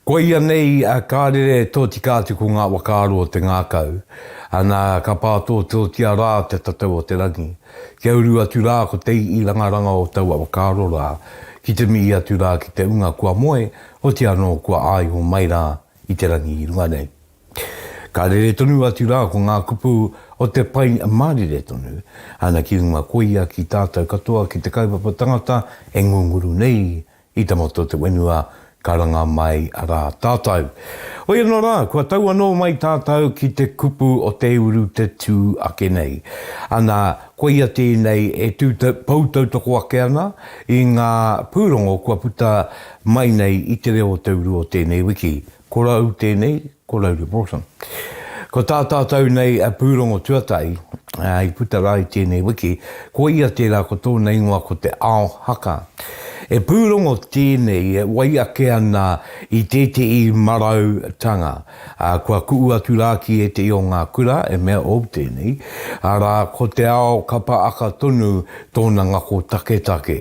Koia nei a Karere tōtika atu ko ngā whakaaro o te ngākau, ana ka pātōtōtia rā te tatau o te rangi. Kia uru atu rā ko te iirangaranga o taua whakaaro rā, ki te mihi atu rā ki te unga kua moe, oti anō kua āiho mai rā i te rangi i runga nei. Ka rere tonu atu rā ko ngā kupu o te pai mārire tonu, ana ki runga koia ki tātau katoa ki te kaupapa tangata e ngunguru nei i te motu o te whenua ka ranga mai rā tātau. Hoi anō rā, kua tau anō mai tātau ki te kupu o te uru te tū ake nei. Ana, koia tēnei e pou tautoko ake ana i ngā pūrongo kua puta mai nei i te reo o te uru o tēnei wiki, Ko Rau tēnei, ko Rau Reporter. Ko tā tātou nei a Pūrongo Tuatahi i puta rā i tēnei wiki, ko ia tērā ko tōna ingoa ko Te Ao Haka. E pūrongo tēnei e wai ake ana i tēteī marau tanga. Kua kuʻu atu rā ki ēteī o ngā kura e mea ou tēnei, arā, ko Te Ao Kapa Aka tonu tōna ngako taketake.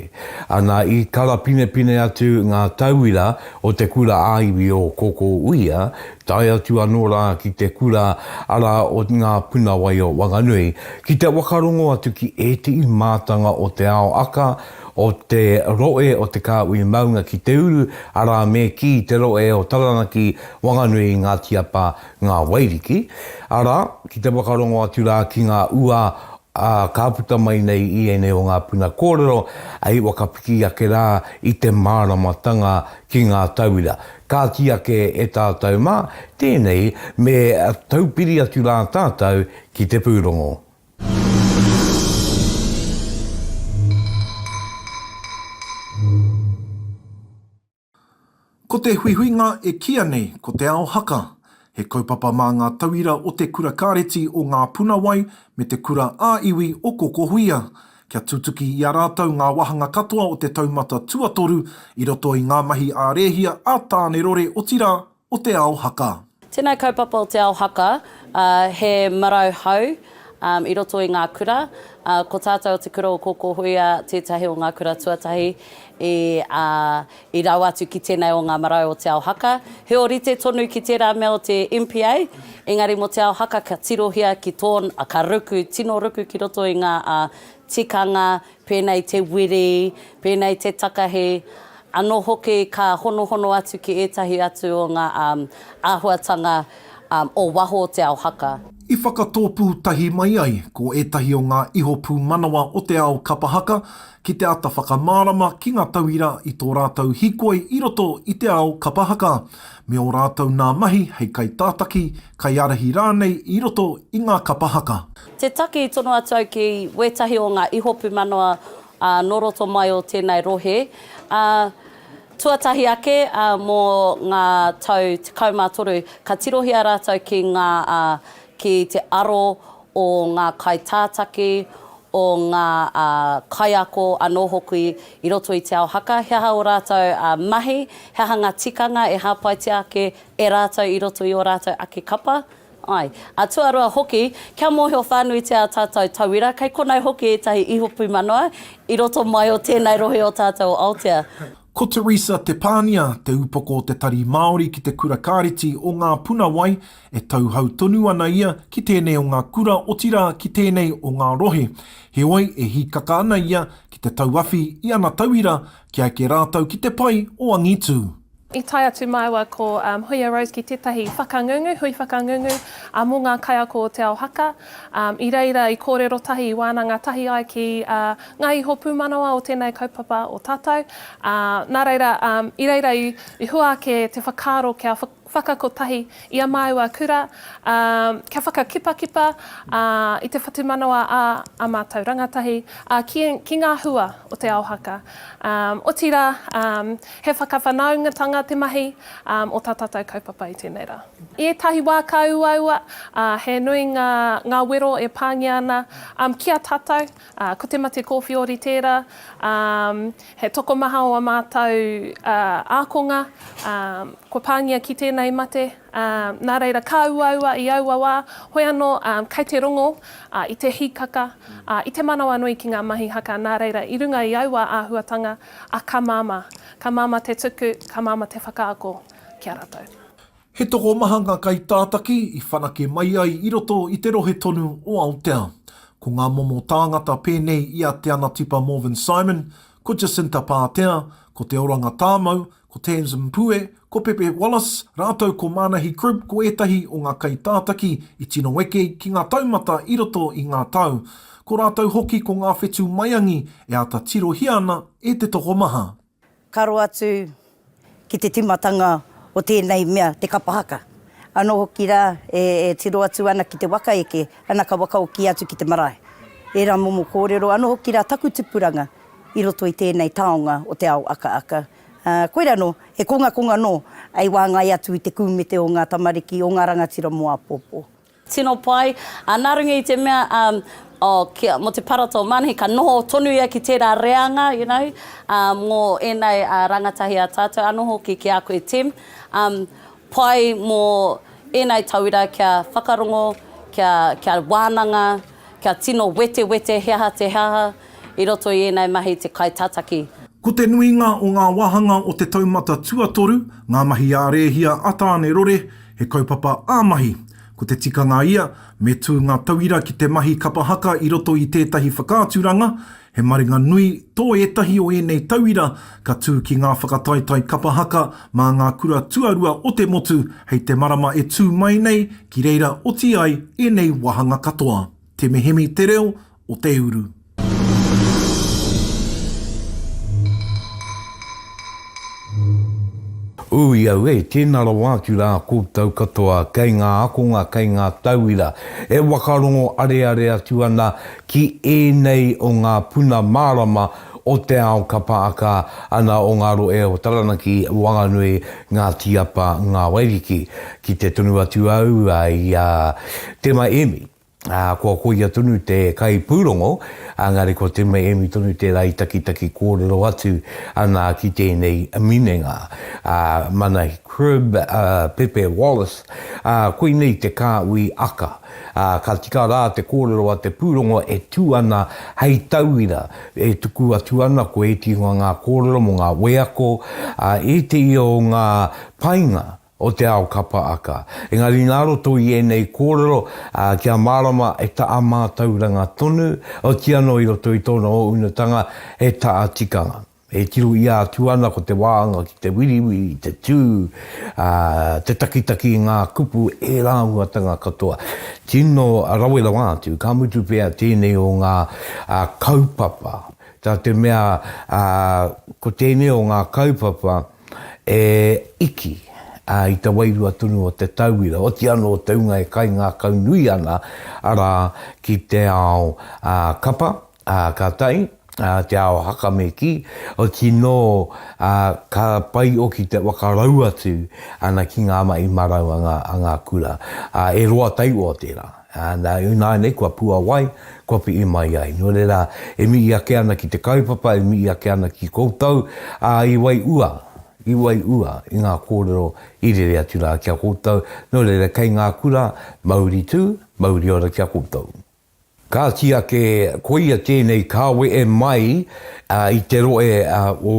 Ana i karapinepine atu ngā tauira o te kura ā-iwi o Kōkōuia, tae atu anō rā ki te kura ara o Ngā Puna Wai o Wanganui, ki te whakarongo atu ki ētehi mātanga o te ao aka, o te rohe o Te Kāhui Maunga ki te uru, arā me kī, te rohe o Taranaki, Wanganui, Ngāti Apa, Ngā Wairiki, arā, ki te whakarongo atu rā ki ngā ua ā, ka puta mai nei i ēnei o ngā puna kōrero hei whakapiki ake rā i te māramatanga ki ngā tauira. Ka kī ake e tātou mā, tēnei me taupiri atu rā tātou ki te pūrongo. Ko te huihuinga e kīia nei ko Te Ao Haka, he kaupapa mā ngā tauira o Te Kura Kāreti o Ngā Punawai me Te Kura ā-Iwi o Kokohuia, kia tutuki i a rātou ngā wāhanga katoa o te taumata tuatoru i roto i ngā mahi ā-rēhia, ā-tānerore, otirā, o te ao haka. Tēnei kaupapa o te ao haka, he marau hau i roto i ngā kura. Ko tātou o Te Kura o Kōkōhuia tētahi o ngā kura tuatahi i rau atu ki tēnei o ngā marau o te ao haka. He ōrite tonu ki tērā mea o te MPA, engari mō te ao haka ka tirohia ki tōna, ka ruku, tino ruku ki roto i ngā tikanga pēnei te wiri, pēnei te takahi, anō hoki ka honohono atu ki ētahi atu o ngā āhuatanga o waho o te ao haka. I whakatōpū tahi mai ai ko ētahi o ngā iho pūmanawa o te ao kapa haka ki te āta whakamārama ki ngā tauira i tō rātou hīkoi i roto i te ao kapa haka, me ō rātou nā mahi hei kaitātaki, kaiārahi rānei i roto i ngā kapa haka. Te taki i tono atu au ki wētahi o ngā iho pūmanawa nō roto mai o tēnei rohe, ā, tuatahi ake mō ngā tau tekau mā toru, ka tirohia rātou ki ngā, ki te aro o ngā kaitātaki, o ngā kaiako anō hoki i roto i te ao haka, he aha ō rātou mahi, he aha ngā tikanga e hāpaitia ake e rātou i roto i ō rātou ake kapa. Ai, a tuarua hoki, kia mōhio whānuitia ā tātou tauira, kei konei hoki ētahi ihopu manawa i roto mai o tēnei rohe o tātou o Aotea. Ko Teresa Te Pānia te upoko o te Tari Māori ki te Kura Kāreti o Ngā Puna Wai, e tauhou tonu ana ia ki tēnei o ngā kura otirā ki tēnei o ngā rohe. Heoi, e hīkaka ana ia ki te tauawhi i ana tauira kia eke rātou ki te pai o angitū. I tae atu māua ko Huia Rose ki tētahi whakangungu, hui whakangungu mō ngā kaiako o Te Ao Haka. I reira i kōrero tahi, i wānanga tahi ai ki ngā iho pūmanawa o tēnei kaupapa o tātou. Nā reira, i reira i hua ake te whakaaro kia whakakotahi i a māua kura, kia whakakipakipa i te whatumanawa a ā mātou rangatahi ki ngā hua o Te Ao Haka. Otirā, He whakawhanaungatanga te mahi o tā tātou kaupapa i tēnei rā. I ētahi wā ka uaua, ā, he nui ngā, ngā wero e pāngia ana, ā, ki a tātou, ā, ko te mate kōwhiori tērā, ā, he tokomaha o ā mātou, ā, ākonga, ā, kua pāngia ki tēnei mate, ā, nā reira, ka uaua i aua wā, hoi anō, ā, kei te rongo, ā, i te hīkaka, ā, i te manawanui ki ngā mahi haka, nā reira, i runga i aua āhuatanga, A ka māmā. Ka māmā te tuku, ka māmā te whakaako ki a ratou. He tokomaha ngā kaitātaki i whanake mai ai i roto i te rohe tonu o Aotea. Ko ngā momo tāngata pēnei i a Te Anatipa Morvin Simon, ko Jacinta Pātea, ko Te Oranga Tāmau, ko Tams Mpue, ko Pepe Wallace rātou ko Mānahi Crimp ko ētahi o ngā kaitātaki i tino eke ki ngā taumata i roto i ngā tau. Ko rātou hoki ko ngā whetū maiangi e āta tirohia ana e te tokomaha. Ka roa atu ki te tīmatanga o tēnei mea te kapa haka. Anō hoki rā e tiro atu ana ki te waka eke, ana ka wakaoki atu ki te marae. Ērā momo kōrero, anō hoki rā taku tupuranga. i roto i tēnei taonga o te ao akaaka. Ā, koirā anō, he kongakonga anō hei wāngai atu i te kūmete o ngā tamariki, o ngā rangatira mō āpōpō. Tino pai, ā, nā runga i te mea, um, oh, kia, mō te Parata o Manahi, ka noho tonu ia ki tērā reanga, you know, um, mō ēnei, uh, rangatahi a tātou, anō hoki ki a koe, Tim. Um, Pai mō ēnei tauira kia whakarongo, kia, kia wānanga, kia tino wetewete he aha te he aha i roto i ēnei mahi te kaitataki. Ko te nuinga o ngā wāhanga o te taumata tuatoru, ngā mahi ā rēhia a Tāne Rore, he kaupapa ā mahi. Ko te tikanga ia, me tū ngā tauira ki te mahi kapa haka i roto i tētahi whakaaturanga, He maringa nui tō ētahi o ēnei tauira ka tū ki ngā whakataetae kapa haka mā ngā kura tuarua o te motu hei te marama e tū mai nei ki reira oti ai ēnei wāhanga katoa. Te Mihemi te reo o te uru. Ui au e, tēnā rawa atu rā koutou katoa kei ngā akonga, kei ngā tauira e whakarongo areare atu ana ki ēnei o ngā puna mārama o te ao ka pāka ana o ngā rohe o Taranaki, Whanganui, Ngāti Apa, Ngā Wairiki. Ki te tunu atu au i a Tema Emi, kua koia tonu te kaipūrongo, engari ko Tema Emi tonu tērā i takitaki kōrero atu ana ki tēnei minenga. Mana Cribb, Pepe Wallace, koinei te kāhui aka. ā, ka tika rā te kōrero a te pūrongo e tū ana hei tauira, e tuku atu ana ko ētehi o ngā kōrero mō ngā wheako, ā, ētehi o ngā painga o te ao ka paaka. Engari nā roto i ēnei kōrero, ā, kia mārama e taʻa mātauranga tonu, otiano i roto i tōna ounutanga he taʻa tikanga. E tirohia atu ana ko te wāanga ki te wiriwiri, te tū, ā, te takitaki i ngā kupu e rāuatanga katoa. Tino rawe rawa atu, ka mutu pea tēnei o ngā kaupapa, tā te mea, ā, ko tēnei o ngā kaupapa e iki, ā, i te wairua tonu o te tauira, oti anō te hunga e kaingākaunui ana, arā, ki te ao, ā, kapa, Ā, ka tae, ā, te ao haka me kī, o tīnō, ā, ka pai oki te whakarau atu ana ki ngā mahi marau a ngā, a ngā kura. Ā, e roa tairoa tērā. Ā, nā, ināianei kua puawai, kua piʻi mai ai. Nō reira, e mihi ake ana ki te kaupapa, e mihi ake ana ki koutou, ā, i waiʻua, i waiʻua i ngā kōrero i rere atu rā ki a koutou. Nō reira, kei ngā kura, mauri tū, mauri ora ki a koutou. Kāti ake, koia tēnei kāwe e mai i te roe o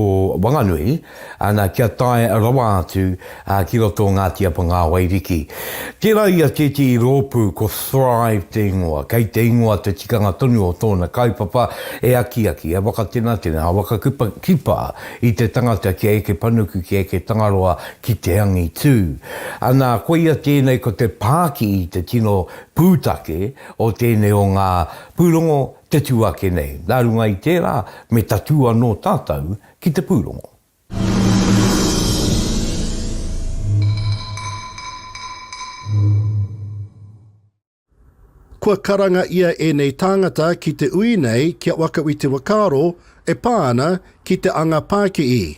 Wanganui, ana, kia tae rawa atu ki roto o Ngāti Apangāwairiki. Tērā ia tētehi rōpū ko Thrive te ingoa, kei te ingoa te tikanga tonu o tōna kaupapa e akiaki, e wakatenatena, e wakakipa i te tangata kia eke panuku, kia eke tangaroa ki te angitū. Ana, koia tēnei ko te pākihi te tino pūtake o tēnei o ngā pūrongo te tū ake nei. Nā runga i tērā, me tatū anō tātou ki te pūrongo. Kua karanga ia ēnei tāngata ki te ui nei kia waka i te wakaaro e pā ana ki te anga pākihi.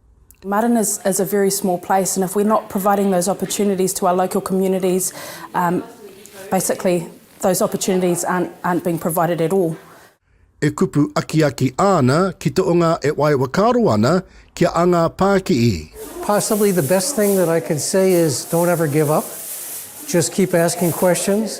Marton is is a very small place and if we're not providing those opportunities to our local communities um basically those opportunities aren't aren't being provided at all. E kupu akiaki āna ki te o ngā e wai wakaaro ana kia a ngā pākiī. Possibly the best thing that I can say is don't ever give up, just keep asking questions,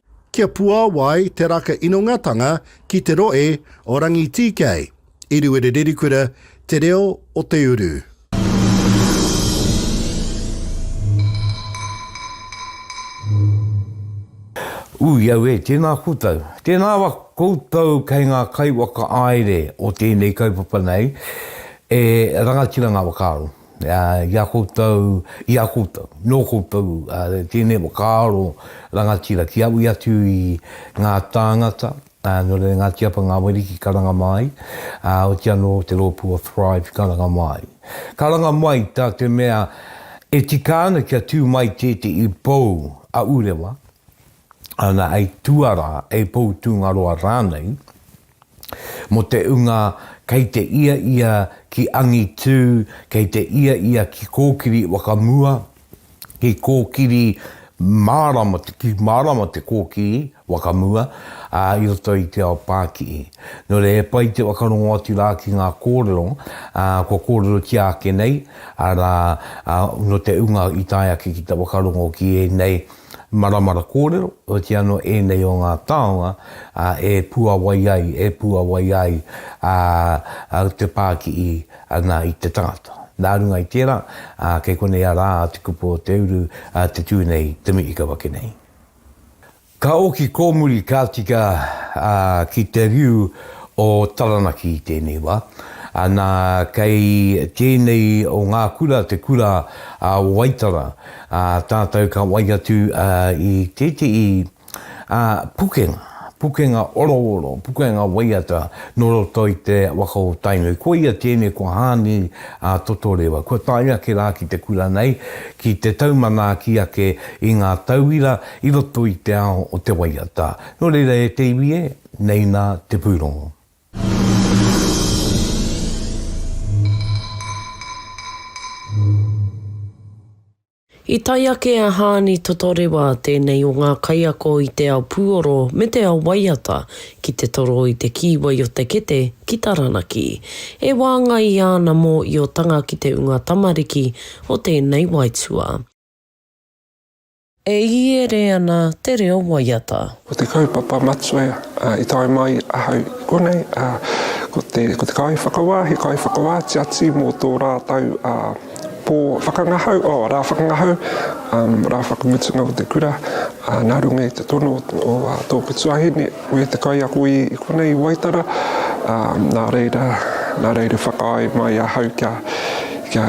Kia puawai te raka inongatanga ki te roe o Rangitīkei, i Ruerererikura, Te Reo o Te Uru. Ui au e, tēnā koutou. Tēnā ra koutou kei ngā kaiwhakaāere o tēnei kaupapa nei, e rangatira ngā whakaaro. i a koutou, i a koutou, nō koutou tēnei whakaaro rangatira ki awi atu i ngā tāngata, nō reira Ngāti Apa Ngāwari ki karanga mā ai, oti anō te rōpū o Thrive i karanga mā ai. Karanga mai tā te mea e tika ana kia tū mai tētehi pou a Urewa, ana hei tuarā, hei pou tūngaroa rānei, Mo te unga kei te ia ia ki angitu, kei te ia ia ki kokiri wakamua, ki kokiri marama, ki marama te kokiri wakamua, a, i roto i te ao pakii. No reira he pai te whakarongo atu ra ki nga korero, a, kua korerotia ake nei, ara, a, no te unga i tae ake ki te whakarongo ki enei, Maramara kōrero, oti anō ēnei o ngā taonga e puawai ai, e puawai ai te pākihi nā i te tangata. Nā runga i tērā, kei konei a rā te kupu o te uru te tū nei, te mihi ka wake nei. Ka oki kōmuri, ka tika ki te riu o Taranaki i tēnei wā. Nā, kei tēnei o ngā kura te kura o Waitara. Ā tātou ka wai atu i tētehi pukenga, pukenga orooro, pukenga waiata nō roto i te waka o Tainui. Koia tēnei ko Hāni Totorewa. Kua tae ake rā ki te kura nei, ki te tau manaaki ake i ngā tauira i roto i te ao o te waiata. Nō reira e te iwi e, nei nā te pūrongo. I tae ake a Haani Totorewa, tēnei o ngā kaiako i te ao puoro me te ao waiata, ki te toro i te kīwai o te kete ki Taranaki. E wāngai i āna mōiotanga ki te unga tamariki o tēnei waetua. E iere ana te reo waiata. Ko te kaupapa matua i tae mai ahau i konei, ko te kaiwhakawā, he kaiwhakawā tiati mō tō rātou pō whakangahau, oh, rā whakangahau, rā whakamutunga o te kura, nā runga i te tono o tōku tuahine, ko ia te kaiako i konei i Waitara, nā reira, nā reira whakaae mai ahau kia, kia,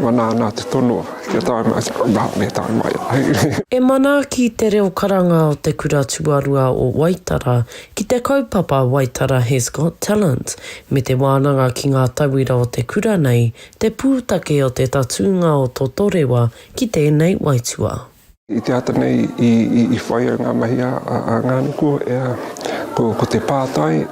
wana ana te tono. Kia tae mai te rangahau, me tae mai ai. E manaaki te reo karanga o te kura tuarua o Waitara ki te kaupapa Waitara Has Got Talent me te wānanga ki ngā tauira o te kura nei te pūtake o te tatūnga o Totorewa ki tēnei waitua. I te ata nei i whai ai ngā mahi a Ngāniko, ko te pātai,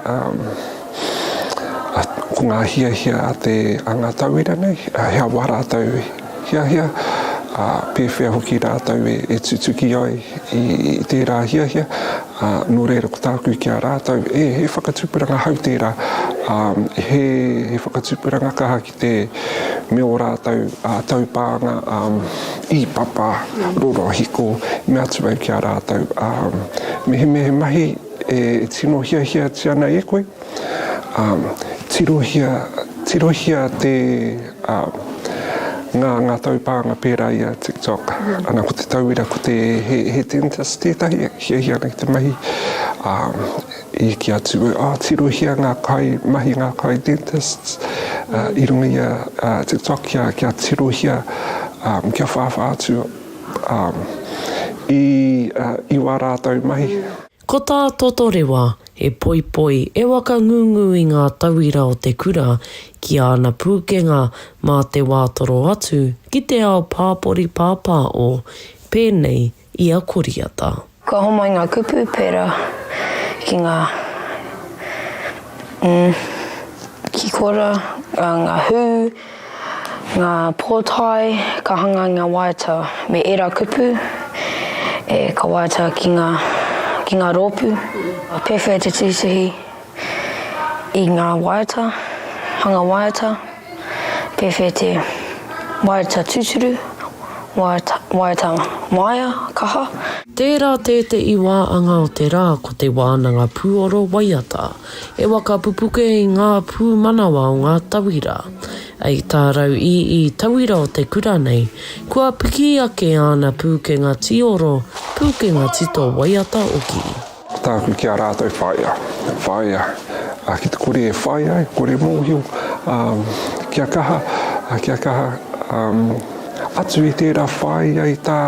ko ngā hiahia a ngā tauira nei, he aha rātou i hiahia, pēwhea hoki rātou e tutuki ai i tērā hiahia, nō reira ko tāku ki a rātou, he whakatupuranga hou tērā, he whakatupuranga kaha te me o rātou taupānga i papa rorohiko me atu ai ki a rātou mehemehe mahi e tino hiahiatia ana e koe, tirohia, tirohia te ngā, ngā taupānga pērā i a TikTok. Ana ko te tauira ko te he, he dentist tētahi e hiahia ana ki te mahi, I eke atu e tirohia ngā kaimahi, ngā kai dentists, i runga i a TikTok kia tirohia, kia whāwhā atu i wā rātou mahi. Ko tā Totorewa, he poipoi e wakangungu i ngā tauira o te kura ki āna pūkenga mā te wā toro atu ki te ao pāpori pāpāo, pēnei i a Koriata. Kua homai ngā kupu pērā ki ngā hikora, ngā hū, ngā pōtae ka hanga i ngā waiata me ērā kupu e ka waiata ki ngā rōpū. Pēwhea te titihī i ngā waiata, hanga waiata? Pewhete, Waeata tuturu, waeata maea kaha. Tērā tēteʻi wā anga o te rā ko te wānanga pūoro waiata e waka pupuke i ngā pūmanawa o ngā tauira. Ei tā rau ii tauira o te kura nei, kua piki ake āna pūkenga tīoro, pūkenga tito waiata oki. Tāku ki a rātou whāia, whāia ki te kore e whai ai, kore mōhio, kia kaha, kia kaha, atu i tērā whāia i tā,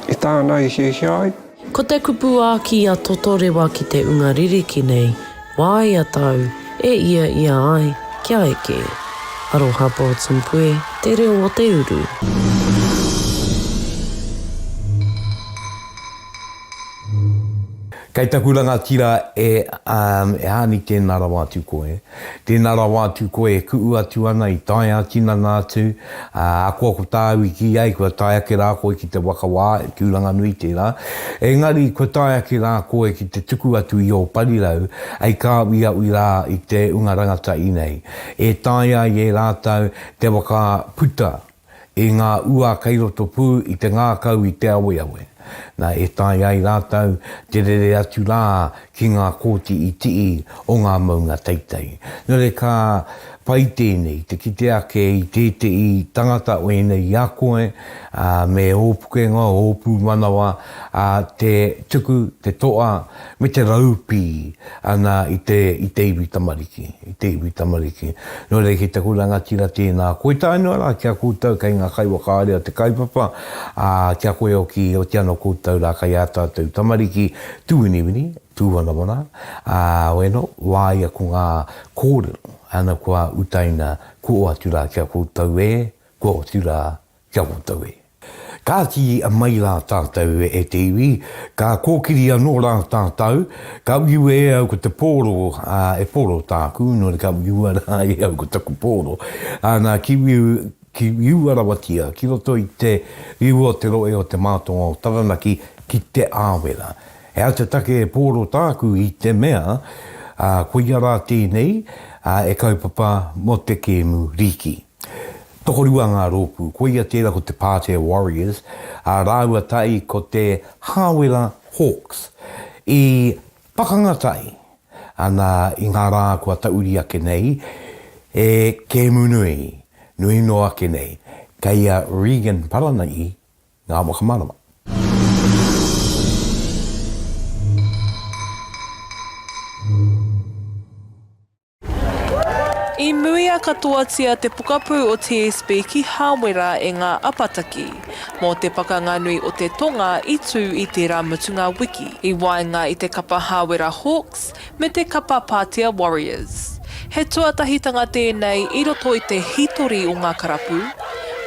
i tāna i hiahia ai. Ko te kupu āki a Totorewa ki te unga ririki nei, Wāia tāu e ia ia ai, kia eke. Aroha Broughton Puē, Te Reo o te Uru. Kei taku rangatira e Aani tēnā rawa atu koe, tēnā rawa atu koe e kuʻu atu ana i tae a tinana atu, ahakoa ko tāu i kī ai kua tae ake rā koe ki te waka wā, tūranganui tērā, engari kua tae ake rā koe ki te tuku atu i ō parirau hei kāuiaui rā i te unga rangatahi nei e taea ai e rātou te waka puta. i ngā ua kei roto pū i te ngākau i te aweawe, nā e tae ai rātou te rere atu rā ki ngā kōti itiī o ngā maunga teitei. Nō reira ka pai tēnei te kite ake i tēteī tangata o ēnei i a koe, ā, me ō pukenga, ō pūmanawa, ā, te tuku, te toa, me te raupī ana i te, i te iwi tamariki, i te iwi tamariki. Nō reira ki taku rangatira tēnā koe tae noa rā ki a koutou kei ngā kaiwhakaari a te kaupapa, ā, ki a koe hoki i oti ana koutou rā kei ā tātou tamariki tūwiniwini, tūwanawana, ā, weno, wāia ko ngā kōrero, ana kua utaina kua oati rā ki a koutou e, kua oti rā ki a koutou e. Ka ki mai rā tātou e te iwi, ka kōkiri anō rā tātou, ka uiua e au ko te pōro, ā, e pōro tāku, nō reira ka uiua rā e au ko taku pōro, ā, nā, ki, ki uiua rawatia ki roto i te riu o te rohe o te mātonga o Taranaki ki Te Āwera. He aha te take e pōro tāku i te mea, ā, koia rā tēnei, ā, e kaupapa mō te kēmu rīki. Tokorua ngā rōpū, koia tērā ko te Pātea Warriors, ā, rāua tahi ko te Hāwera Hawks. I pakanga tahi ana i ngā rā kua tauri ake nei e kēmu nui, nui noa ake nei, kei a Regan Paranahi ngā whakamārama. I muia katoatia te pokapū o TSB ki Hāwera e ngā apataki mō te Pakanga Nui o te Tonga i tū i tērā mutunga wiki i waenga i te kapa Hāwera Hawks me te kapa Pātea Warriors. He tuatahitanga tēnei i roto i te hītori o ngā karapu,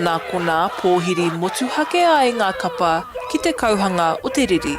nā konā pōhiri motuhake ai ngā kapa ki te kauhanga o te riri.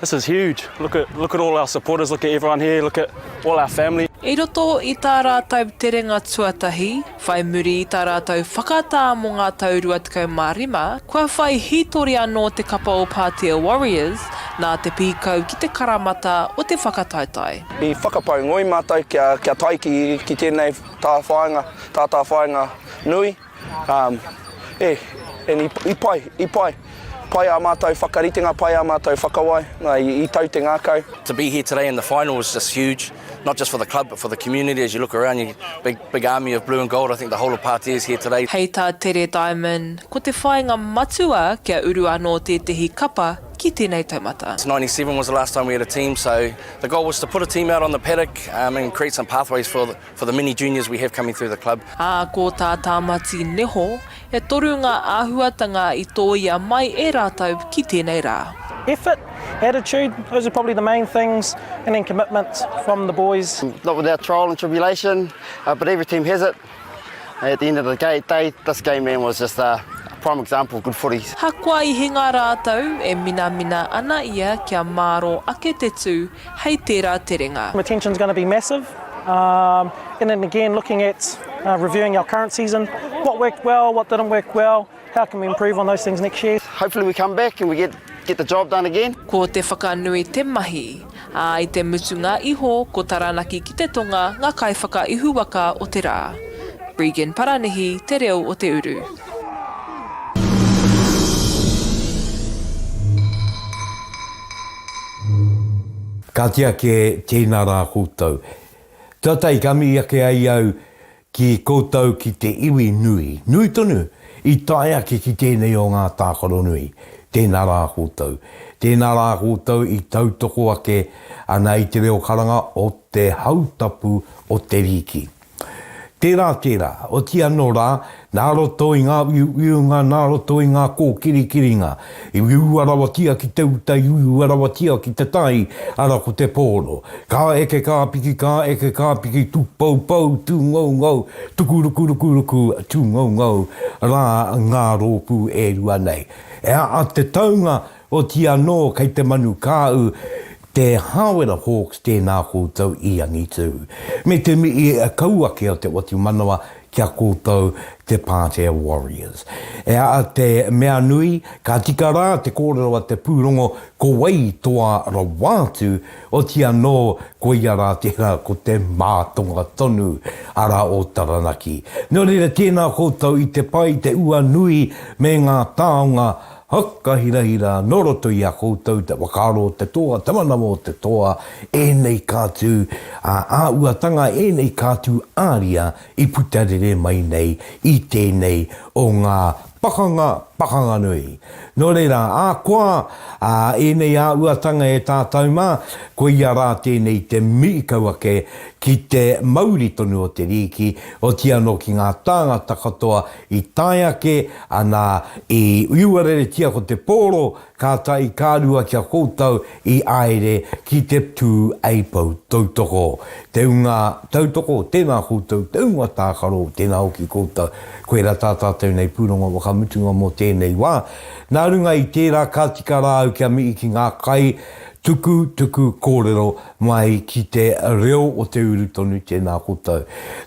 This is huge. Look at look at all our supporters, look at everyone here, look at all our family. I roto i tā rātou terenga tuatahi, whai muri i tā rātou whakatā mō ngā tau 25, kua whai hītori anō te kapa o Pātea Warriors nā te pīkau ki te karamata o te whakataetae. I whakapau ngoi mātou kia tae ki tēnei tāwhāinga, tātāwhāinga nui. Um, eh, and i, i pai, i pai. Pai ā mātou whakaritenga, pai ā mātou whakawai, nā, i, i tau te ngākau. To be here today in the final was just huge, not just for the club but for the community as you look around you, big, big army of blue and gold, I think the whole of Pātea is here today. Hei tā Tere Diamond, ko te whāinga matua kia uru anō tētehi kapa ki tēnei taumata. 97 was the last time we had a team, so the goal was to put a team out on the paddock um, and create some pathways for the, For the many juniors we have coming through the club. Ā, ko tā Tāmati Neho, e toru ngā āhuatanga i tōia mai e rātou ki tēnei rā. Effort, attitude, those are probably the main things and then commitment from the boys. Not without trial and tribulation but every team has it. At the end of the day this game man was just a prime example of good footy. Hakoa i hinga rātou, e minamina ana ia kia māro ake te tū, hei tērā terenga. Retention is going to be massive and then again looking at reviewing our current season, what worked well, what didn't work well, how can we improve on those things next year. Hopefully we come back and we get get the job done again. Ko te whakanui te mahi, ā, i te mutunga iho ko Taranaki ki te Tonga ngā kaiwhakaihuwaka o te rā. Regan Paranihi, Te Reo o Te Uru. Kāti ake, tēnā rā koutou. Tata i kami ake ai au ki koutou ki te iwi nui, nui tonu, i tae ake ki tēnei o ngā tākaro nui, tēnā rā koutou. Tēnā rā koutou i tautoko ake ana i te reo karanga o te hautapu o te rīki. Tērā, tērā, oti anō rā, nā roto i ngā uiuiunga, nā roto i ngā kōkirikiringa, i uiua rawatia ki te uta, i uiua rawatia ki te tai, ara ko te pōro. Ka eke kā piki, ka eke kā piki, tūpoupou, tūngoungou, tuku rukurukuruku, tūngoungou rā ngā rōpū e rua nei. E a, a te taunga Oti anō kei te manu kāu te Hāwera Hawks tēnā koutou i angitu. Me te mihi kau ake o te otu manawa ki a koutou te Pātea Warriors. E aha te mea nui, ka tika rā te kōrero a te pūrongo ko wai toa rawa atu, oti anō koia rā tērā ko te mātonga tonu, arā o Taranaki. Nō reira tēnā koutou i te pai, te ua nui me ngā taonga Whakahirahira nō roto i a koutou te whakaaro o te toa, te manawa o te toa, ēnei kātū ā-āhuatanga, ēnei kātū āria i puta rere mai nei i tēnei o ngā pakanga, pakanga nui. Nō reira, ahakoa ēnei āhuatanga e tātou mā, koia rā tēnei te mihi kau ake ki te mauri tonu o te rīki, otiia anō ki ngā tāngata katoa I tae ake ana i uiwareretia ko te pōro, kāta i kārua ki a koutou i āere ki te tū eipou tautoko. Te unga tautoko, tēnā koutou, te unga tākaro, tēnā hoki koutou. Koirā tā tātou nei pūrongo whakamutunga mō tēnei wā. Nā runga i tērā ka tika rāu kia mihi ki ngā kai tuku tuku kōrero, Mai ki te reo o te uru tonu tēnā koutou.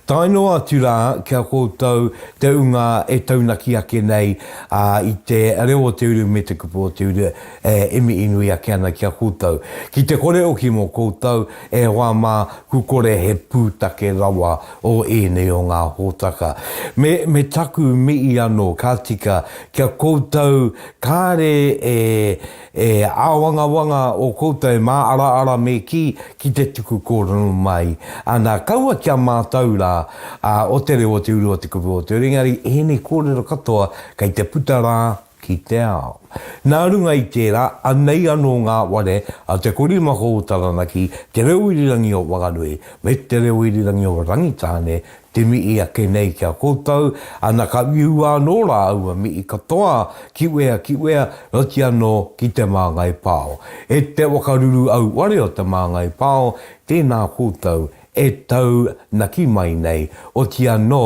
Tae noa atu rā ki a koutou te ūnga e taunaki ake nei i te reo o te uru me te kupu o te uru e mihi nui ake ana ki a koutou. Ki te kore hoki mō koutou e hoa mā ku kore he pūtake rawa o ēnei o ngā hōtaka. Me, me taku mihi anō ka tika ki a koutou kāre e E āwangawanga ō koutou māaraara me kī ki te tuku kōrero mai, ana, kaua ki a mātou rā, ā, o te reo, o te uru, o te kupu, o te uri, engari ēnei kōrero katoa kei te puta rā ki te ao. Nā runga i tērā, anei anō ngā ware a Te Korimako o Taranaki, Te Reo Irirangi o Whanganui, me Te Reo Irirangi o Rangitāne Te mihi ake nei ki a koutou, ana ka uiua anō rā aua mihi katoa ki wea ki wea, noti anō ki Te Māngai Pāo. E te wakaruru auare o Te Māngai Pāo, tēnā koutou e tau naki mai nei, oti anō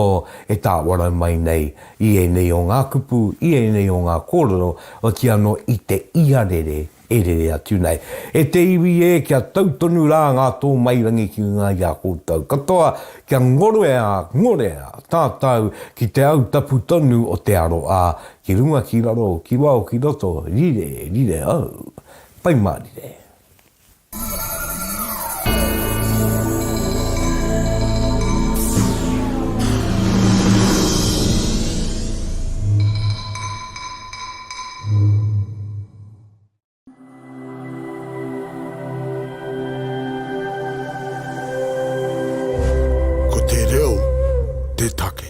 e tāwara mai nei i ēnei o ngā kupu, i ēnei o ngā kōrero, oti anō i te iarere, E rere atu nei. E te iwi e, kia tau tonu rā ngā tōmairangi ki ngā i a koutou. Katoa, kia ngorea, ngorea, tātau, ki te au tapu tonu o te aro a, ki runga ki raro, ki wao ki roto, rire, rire au. Pai mārire. Ko te reo te take.